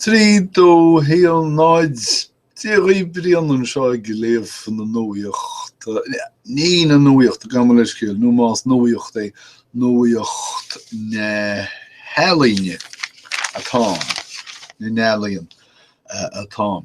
Trí dó haon náid, Deaglán Ó Briain anseo ag léamh na nuaíocht, ní na nuaíochta, gabh mo leithscéal, nó más nuaíocht é, nuaíocht na healaíne atáim, na n-ealaíon atáim.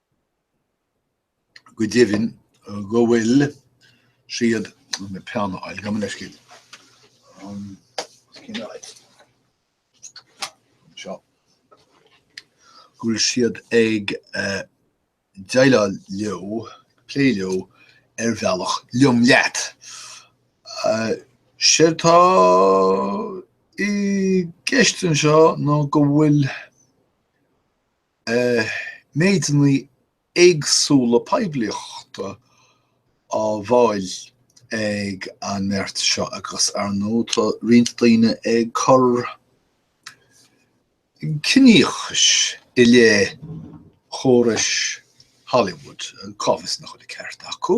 go deimhin, go bhfuil siad. Bhfuil peann a fháil, gabh mo leithscéal. Seo. go bhfuil siad ag déileáil leo, ag plé leo ar bhealach liom leat. Séard atá i gceist anseo ná go bhfuil méideanna éagsúla poiblíochta á bhfáil ag an mbeart seo agus, ar ndóigh, tá roinnt daoine ag cur ciníochais i leith chórais Hollywood, cá bhfios nach bhfuil an ceart acu.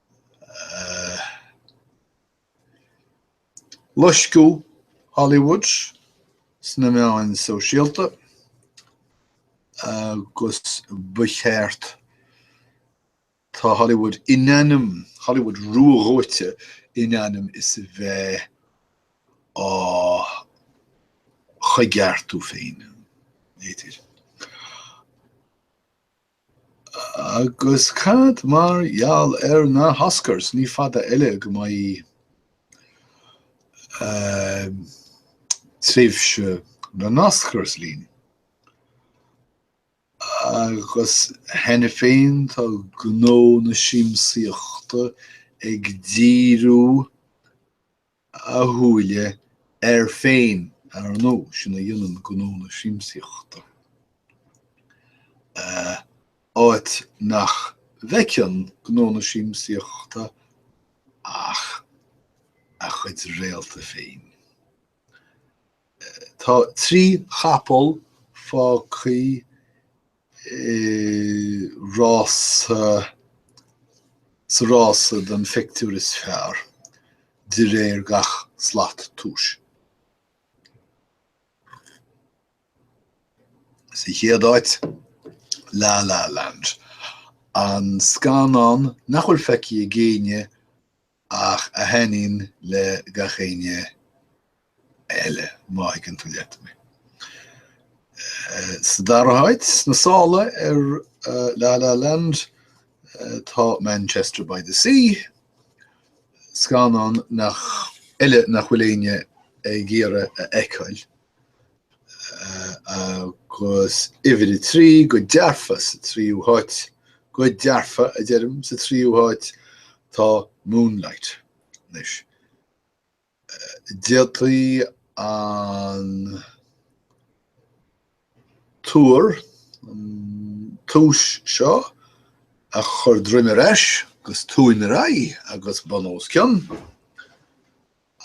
Loisciú Hollywood sna meáin sóisialta agus ba cheart Tá Hollywood in ainm Hollywood ruadhóite in ainm is a bheith á choigeartú féin. Agus cad mar gheall ar na hOscars? Ní fada eile go mbeidh tréimhse na nOscars linn. Agus cheana féin tá gnó na siamsaíochta ag díriú a shúile air féin, ar ndóigh, sin a dhéanann gnó na siamsaíochta, áit nach bhfeiceann gnó na siamsaíochta ach a chuid réalta féin. Tá trí chapall fágthaí i rása, sa rása don phictiúr is fearr de réir gach slat tomhais. Sa chéad áit, La La Land, an scannán nach bhfuil feicthe ag éinne, ach a thaitníonn le gach éinne eile, má thuigeann tú leat mé. Sa dara háit sna sála ar La La Land tá Manchester by the Sea, scannán eile nach bhfuil éinne ag iarraidh a fheiceáil. agus uimhir a trí, go dearfa, sa tríú háit, go dearfa, a deirim, sa tríú háit, tá Moonlight. Anois, d'fhéadfaí an tuar, an tuar seo, a chur droim ar ais, agus tóin ar aghaidh, agus bun os cionn,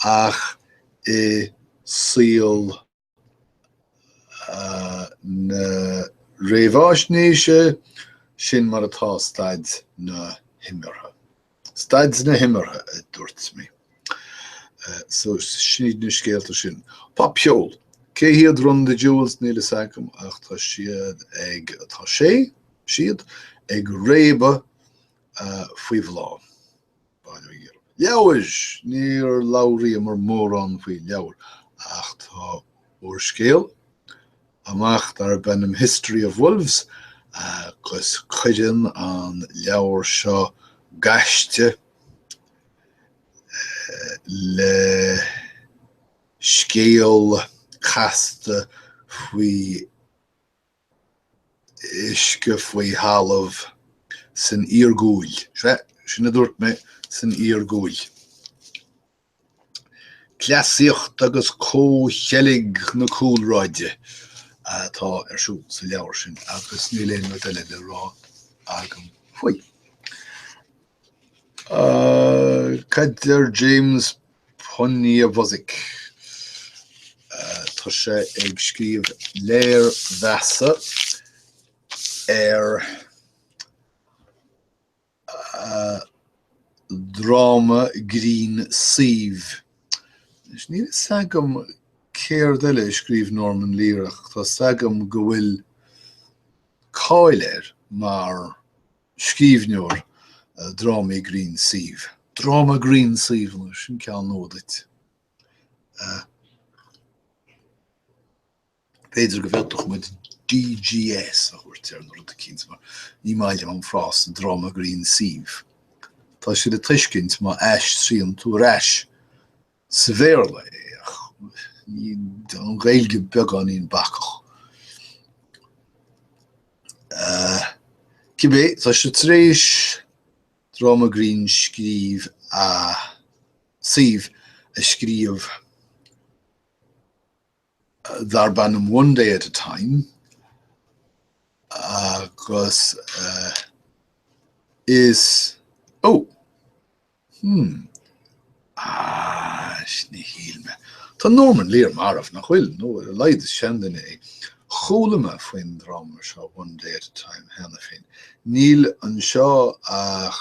ach i saol na réamhaisnéise, sin mar atá staid na himeartha. Staid na himeartha, a dúirt mé. So, sin iad na scéalta sin. Popcheol. Cé hiad Run the Jewels? Níl a fhios agam ach tá siad ag, tá sé, siad, ag réabadh faoi bhláth. Leabhair. Níor labhraíomar mórán faoi leabhair, ach tá úrscéal amach darb ainm History of Wolves agus cuireann an leabhar seo gaiste le scéal casta faoi uisce faoi thalamh, san iargúil. Sea, sin a dúirt mé, san iargúil. Cleasaíocht agus comhcheilg na cúlráide atá ar siúl sa leabhar sin agus níl aon rud eile le rá agam faoi. Cad deir James Poniewozik? Tá sé ag scríobh léirmheasa ar dhráma grinn suímh. Níl fhios agam céard eile a scríobh Norman Lear ach tá fhios agam go bhfuil cáil air mar. Scríbhneoir drámaí grinn suímh. Dráma grinn suímh, ó, sin ceann nua duit. B'fhéidir go bhféadfadh muid DGS a thabhairt air nó rud eicínt, mar ní maith liom an frása dráma grinn suímh. Tá sé le tuiscint má aistríonn tú ar ais Sa Bhéarla é ach ní don Ghaeilge, beagáinín bacach. Cibé, tá sé tar éis dráma grinn scríobh suímh a scríobh darb ainm One Day at a Time agus is, ó! hmm, is, níor shíl mé. Tá Norman Lear marbh, nach bhfuil? Nó a laghad is seanduine é. Chuala mé faoin dráma seo One Day at a Time cheana féin. Níl anseo ach.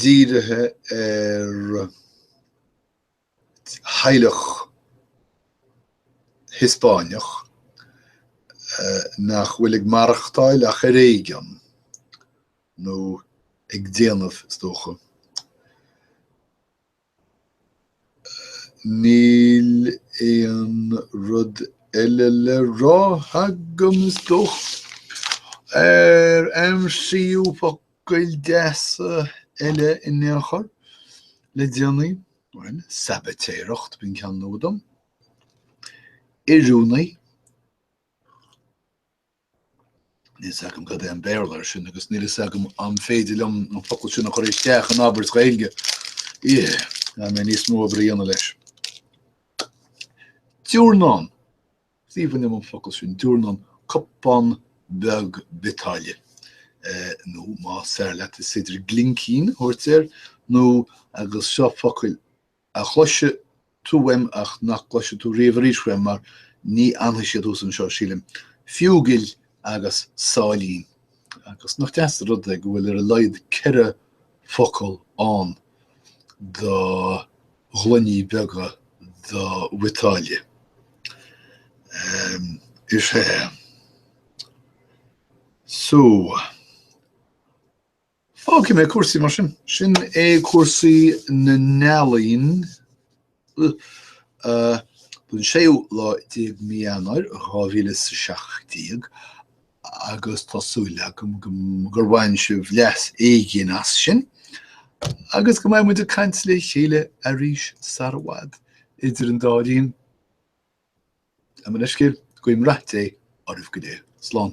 dírithe ar theaghlach Hiospáineach nach bhfuil ag maireachtáil ach ar éigean, nó ag déanamh, is dócha, Níl aon rud eile le rá agam, is dócha, ach ar aimsíodh focail deasa eile in aon chor le déanaí, sabaitéireacht b'in ceann nua dom, oiriúnaí. Níl fhios agam cad é an Béarla air sin agus níl fhios agam an féidir liom an focal sin a chur isteach in abairt Ghaeilge. Eh, gan mé níos mó oibre a dhéanamh leis. Diúrnán. Is aoibhinn liom an focal sin, diúrnán, cupán beag biotáille. Eh, nó más fearr leat is féidir glincín a thabhairt air, nó agus seo focail a chloisfidh tú uaim ach nach gcloisfidh tú riamh arís uaim mar ní fhanfaidh siad thuas anseo, sílim. Fiúigil agus Sáilín. Agus nach deas an rud é go bhfuil ar a laghad ceithre focal ann do ghloiní beaga do bhiotáille. Em. is ea. So. Fágfaidh mé cúrsaí mar sin. Sin é cúrsaí na n-ealaíon don 16ú lá de mhí Eanáir 2017 agus tá súil agam gur bhain sibh leas éigin as sin agus go mbeidh muid ag caint le chéile arís sar i bhfad idir an dá linn. mar a bheifeá ag súil, guím rath Dé oraibh go léir. Slán.